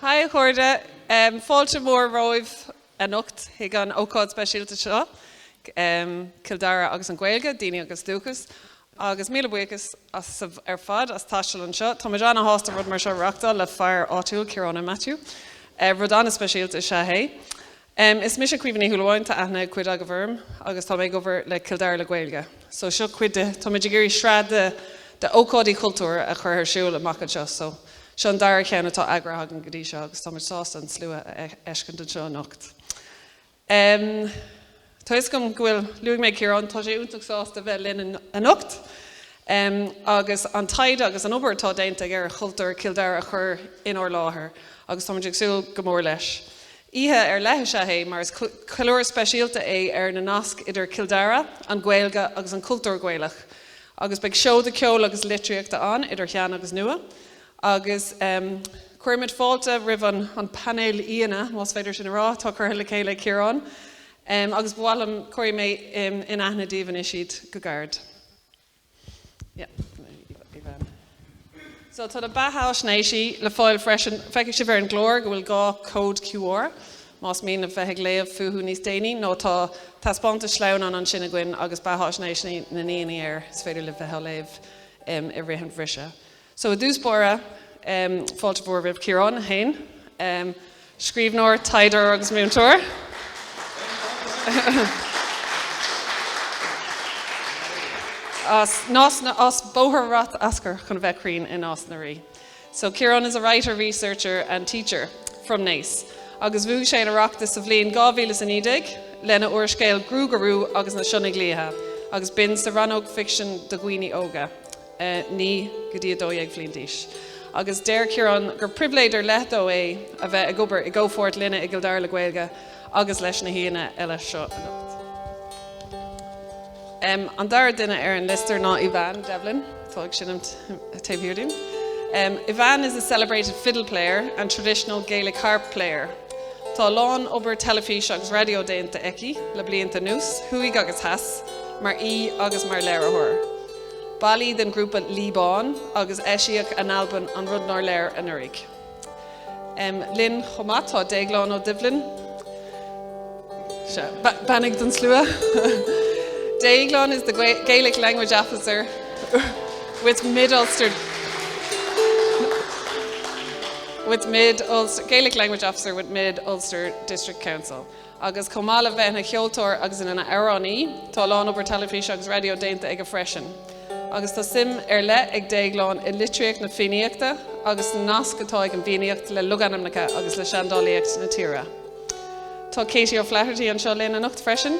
Haigh a chairde, fáilte mhór romhaibh anocht chuig an ócáid speisialta seo, Cill Dara agus an Ghaeilge, Daoine agus Dúchas, agus míle buíochas ar fad as taisteal anseo. Táimid an-sásta rud mar seo a reachtáil le fear áitiúil, Ciarán Ó Maitiú. Rud an-speisialta is ea é. Em, is mise Caoimhe Ní Shúilleabháin, tá aithne ag cuid agaibh orm, agus tá mé ag obair le Cill Dara le Gaeilge. So, seo cuid de, táimid ag iarraidh sraith de, de ócáidí chultúir a chur ar siúl amach anseo. So, seo an dara cheann atá eagraithe againn go dtí seo agus táimid sásta an slua a fheiscint anseo anocht. Em, tá fhios agam go bhfuil, luaigh mé Ciarán, tá sé iontach sásta bheith linn anocht. Em, agus an taighde agus an obair atá déanta aige ar chultúr Chill Dara a chur inár láthair agus táimid ag súil go mór leis. Oíche ar leith is ea é mar is ceiliúradh speisialta é ar na naisc idir Cill Dara, an Ghaeilge agus an cultúr Gaelach agus beidh seoda ceoil agus litríochta ann, idir shean agus nua, agus cuirimid fáilte roimh an painéal aíonna, más féidir sin a rá, atá curtha le chéile ag Ciarán agus ba mhaith liom cuirfidh mé in aithne daoibh anois iad go gairid. So tá na beathaisnéisí le fáil freisin. Feicfidh sibh ar an gclár go bhfuil dhá cód QR, más mian libh bheith ag léamh fúthu níos déanaí, nó tá taispeántas sleamhnán ansin againn agus beathaisnéisí na ndaoine air is féidir libh bheith á léamh i rith an bhriseadh. So i dtús báire, fáilte mhór roimh Chiarán féin, scríbhneoir, taighdeoir agus múinteoir as Nás na, as Bóthar Ráth Oscair chun bheith cruinn i Nás na Rí. So Ciarán is a writer, researcher and teacher from Naas agus bhuaigh sé an Oireachtas sa bhliain 2019 lena úrscéal Gruagach Rua agus na Sionnaigh Liatha agus b'in sa rannóg ficsean do dhaoine óga. 9 go dtí 12 bhliain d'aois, agus deir Ciarán gur pribhléid ar leith dó é a bheith ag obair i gcomhpháirt linne i gCill Dara le Gaeilge agus leis na haíonna eile seo anocht. An dara duine ar an liosta ná Aoibheann Devlin, tá ag seinm taobh thiar díom. Aoibheann is a celebrated fiddle player and traditional Gaelic harp player. Tá a lán obair teilifíse agus raidió déanta aici le blianta anuas, thuaidh agus theas, mar aoi agus mar léiritheoir. Ball í den ghrúpa Lí Ban agus eisíodh a n-albam An Rud Nár Léir anuraidh. Linn chomh maith tá Déaglán Ó Doibhlin, beannaigh don slua, Déaglán is the Gaelic Language Officer with Mid-Ulster, Gaelic Language Officer with Mid-Ulster District Council. agus chomh maith le bheith ina cheoltóir agus ina amhránaí, tá a lán obair teilifíse agus raidió déanta aige freisin, agus tá suim ar leith ag Déaglán i litríocht na Fiannaíochta agus na nasc atá ag an bhFiannaíocht le logainmneacha agus le seandálaíocht na tíre. Tá Katie O'Flaherty anseo linn anocht freisin.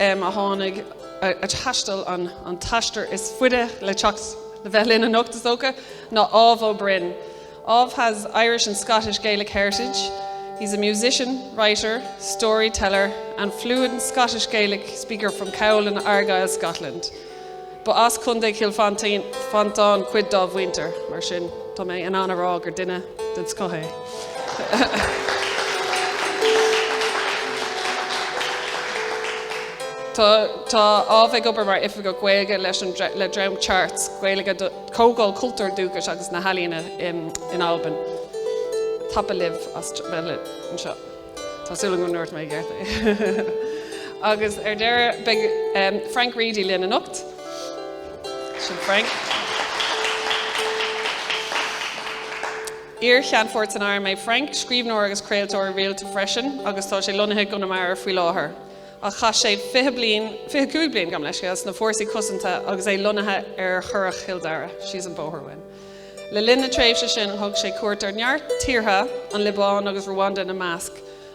am a tháinig, a thaistil an t-aistear is faide le teacht le bheith linn anocht, is dócha, ná Ádhamh Ó Broin. Ádhamh has Irish and Scottish Gaelic heritage, he's a musician, writer, storyteller and fluent Scottish Gaelic speaker from Cowal in Argyll, Scotland. Ba as Contae Chill Mhantáin cuid dá mhuintir, mar sin tá mé in ann a rá gur duine den scoth é. Tá Ádhamh ag obair mar Oifigeach Gaeilge leis le dream CHARTS, Gaeilge, Comhdháil Cultúir Dúchais agus na hEalaíona in Albain. Tapadh leibh as bheith anseo. Tá súil agam go ndúirt mé i gceart é. Agus ar deireadh, beidh Frank Reidy linn anocht. Sin Frank. Iar-Cheannfort san Arm é Frank, scríbhneoir agus craoltóir rialta freisin agus tá sé lonnaithe i gConamara faoi láthair. Ach chaith sé 20 bliain, 25 bliain gabh mo leithscéal, sna fórsaí cosanta agus é lonnaithe ar Churrach Chill Dara, síos an bóthar uainn. Le linn na tréimhse sin thug sé cuairt ar neart tíortha, an Liobáin agus Ruanda ina measc,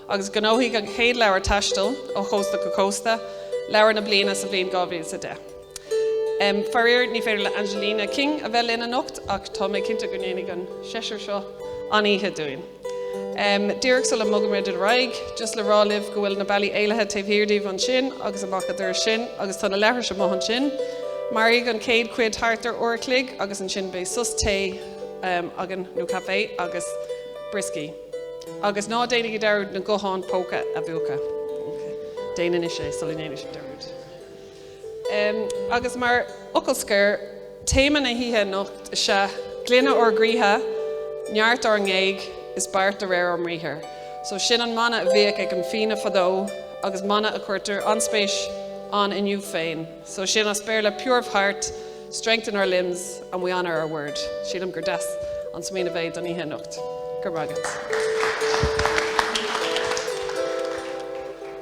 agus ghnóthaigh an chéad leabhar taistil, Ó Chósta go Cósta, Leabhar na Bliana sa bhliain 2010. Faraor ní féidir le Angeline King a bheith linn anocht ach tá mé cinnte go ndéanfaidh an seisear seo an-oíche dúinn. Díreach sula mbogaimid ar aghaidh, just le rá libh go bhfuil na bealaí éalaithe taobh thiar díbh ansin agus amach a' doras sin agus tá na leithris amuigh ansin. Mairfidh an chéad chuid thart ar uair a chloig agus ansin beidh sos tae againn, nó caife agus brioscaí. Agus ná déanaigí dearúd na gutháin póca a mhúchadh. Déan anois é sula ndéanann sibh dearúd. Agus mar fhocal scoir, téama na hoíche anocht is ea Glaine ár gcroíthe, neart ár ngéag, is beart de réir ár mbriathair. So sin an mana a bhíodh ag an Fianna fadó agus mana a chuirtear an-spéis ann inniu féin. So sin as Béarla pure of heart, strength in our limbs and we honour our word. Sílim gur deas an smaoineamh é don oíche anocht. Go raibh maith agat.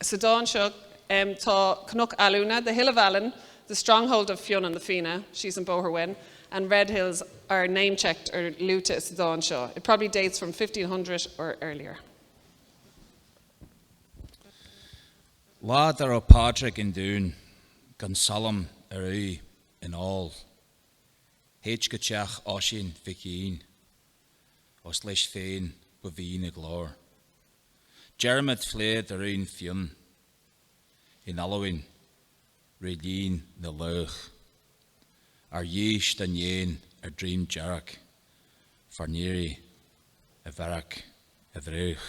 Sa dán seo, tá Cnoc Alúine, the hill of Allen, the stronghold of Fionn and the Fianna, síos an bóthar uainn, and Red Hills are name-checked or luaite sa dán seo. It probably dates from 1500 or earlier. Lá dá raibh Pádraig i nDún gan salm ar úidh in ól. Théid go teach Oisín Mhic Fhinn. os leis féin ba bhí na glór. Dearmad phlé d'fhoireann Fionn in Albain ré lín na laoch, ar dhíth dá ndéin ar Dream Dearg, Fernire, i bhFearac a' Bhréagh.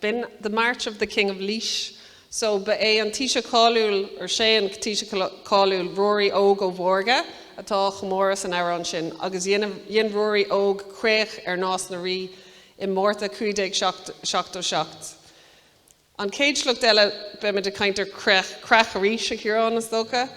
B'in The March of the King of Laois. So ba é an Taoiseach cáiliúil, or sé an Taoiseach cáiliúil, Ruairí Óg Ó Mhórdha, atá á chomóradh san amhrán sin, agus dhein Ruairí Óg creach ar Nás na Rí i Márta 1577. An chéad sliocht eile, beimid ag caint ar chreach arís, a Chiaráin, is dócha.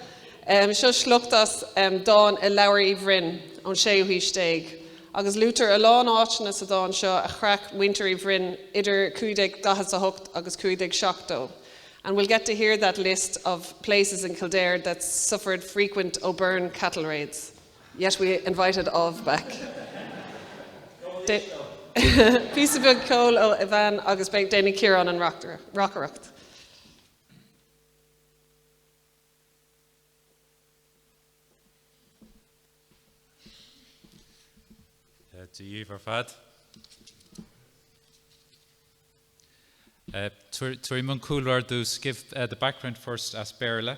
Seo sliocht as dán i Leabhar Uí Bhroin ón séú haois déag, agus luaitear a lán áiteanna sa dán seo a chreach muintir Uí Bhroin idir 1548 agus 1570, and we'll get to hear that list of places in Kildare that suffered frequent O'Byrne cattle-raids. Yet we invited of back Beidh píosa beag ceoil ó Ivan agus beidh déanfaidh Ciarán an reacaireacht. Dia dhaoibh ar fad. Uh, Tabharfaidh mé an cúlra, just give uh, the background first as Béarla.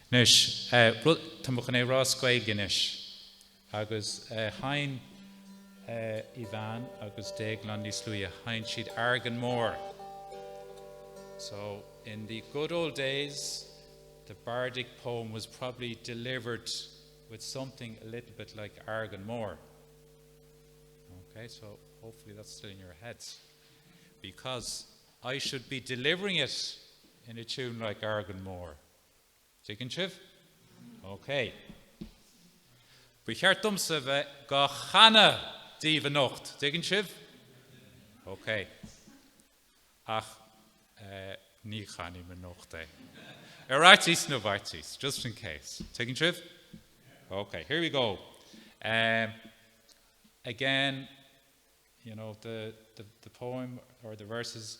Anois, rud, tá mé chun é a rá as Gaeilge anois agus sheinn Ivan agus Déaglán níos luaithe, sheinn siad Argan Mór. So, in the good old days, the bardic poem was probably delivered with something a little bit like Argan Mór. Okay, so hopefully that's still in your heads. Because I should be delivering it in a tune like Argan Mór. Tuigeann sibh? OK. Ba cheart domsa bheith dhá chanadh daoibh anocht, tuigeann sibh? OK. Ach ní chanfaidh mé anocht é. Ar fhaitíos na bhfaitíos, just in case. Tuigeann sibh? OK, here we go. Um, again, you know, the, the, the poem or the verses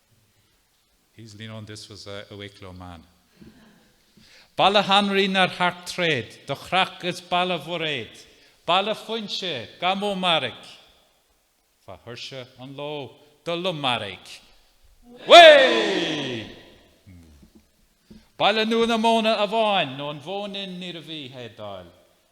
Baile Hanraí nár thearc tréad, do chreach is Baile Bhairéad, Baile Phuinse, gá mó mairg, fa thuirse an ló do lomairg, Baile Nua na Móna amháin nó an Mhóinín níorbh í a héadáil,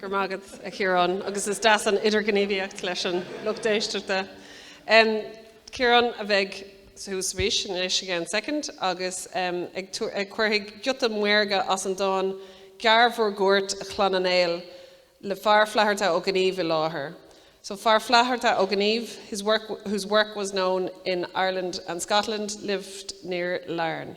Go raibh maith agat, a Chiarán, agus is deas an idirghníomhaíocht leis an lucht éisteachta. Um, Ciarán a bheidh suas arís, in anois i gceann second, agus um, ag, ag cuirfidh giota maorga as an dán Gearr bhur gcuairt a Chlanna Néill le Fear Flatharta Ó Gnímh i láthair. So Fear Flatharta Ó Gnímh, his work, whose work was known in Ireland and Scotland, lived near Larne.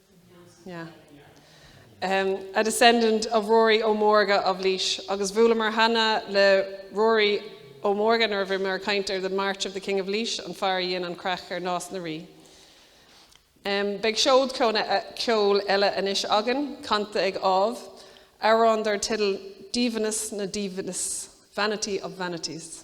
Yeah. Um, a descendant of Rory Ó Mórga of Laois, agus bhuaileamar cheana le Rory Ó Mórga nuair a bhí mé ag caint ar The March of the King of Laois, an fear a dhein an chreach ar Nás na Rí. Um, beidh seod ceoil, ceoil eile anois againn, canta ag Ádhamh, amhrán dar teideal Díomhaoineas na nDíomhaoineas, Vanity of Vanities.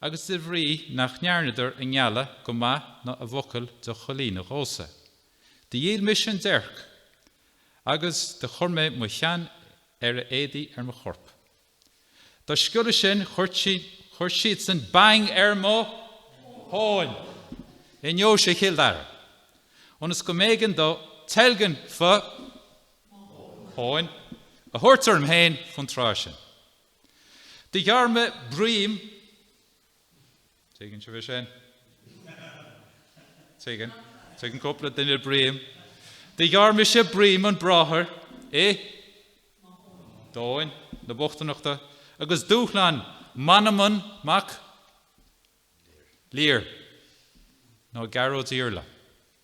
agus de bhrí nach ndearnadar a ngealladh go maith ná a bhfocal do choimhlíonadh dhómhsa. Do dhíol mise an déirc agus do chuir mé mo cheann ar a éadaí ar mo chorp. Dá sciolladh sin chuir siadsan bang ar mo thóin i ndeoise Chill Dara, ionas go mb'éigean domh teilgean fo thóin a thabhairt orm féin faoin tráth sin. Do ghearr mé broim, tuigeann sibh sin? Tuigeann, tuigeann cúpla duine broim. Do ghearr mise broim an bhráthar i dtóin na bochtaineachta agus dúshlán Manannán Mac Lir, nó Gearóid Iarla.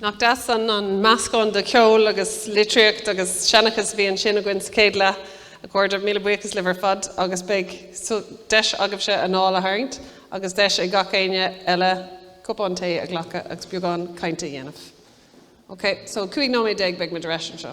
Nach deas an meascán de cheol agus litríocht agus seanchas a bhí ansin againn sa chéad leath. A chairde, míle buíochas libh ar fad agus beidh deis agaibhse anáil a tharraingt agus deis ag gach éinne eile cupán tae a ghlacadh agus beagán cainte a dhéanamh. Ok, so 15 nóiméad beidh muid ar ais anseo.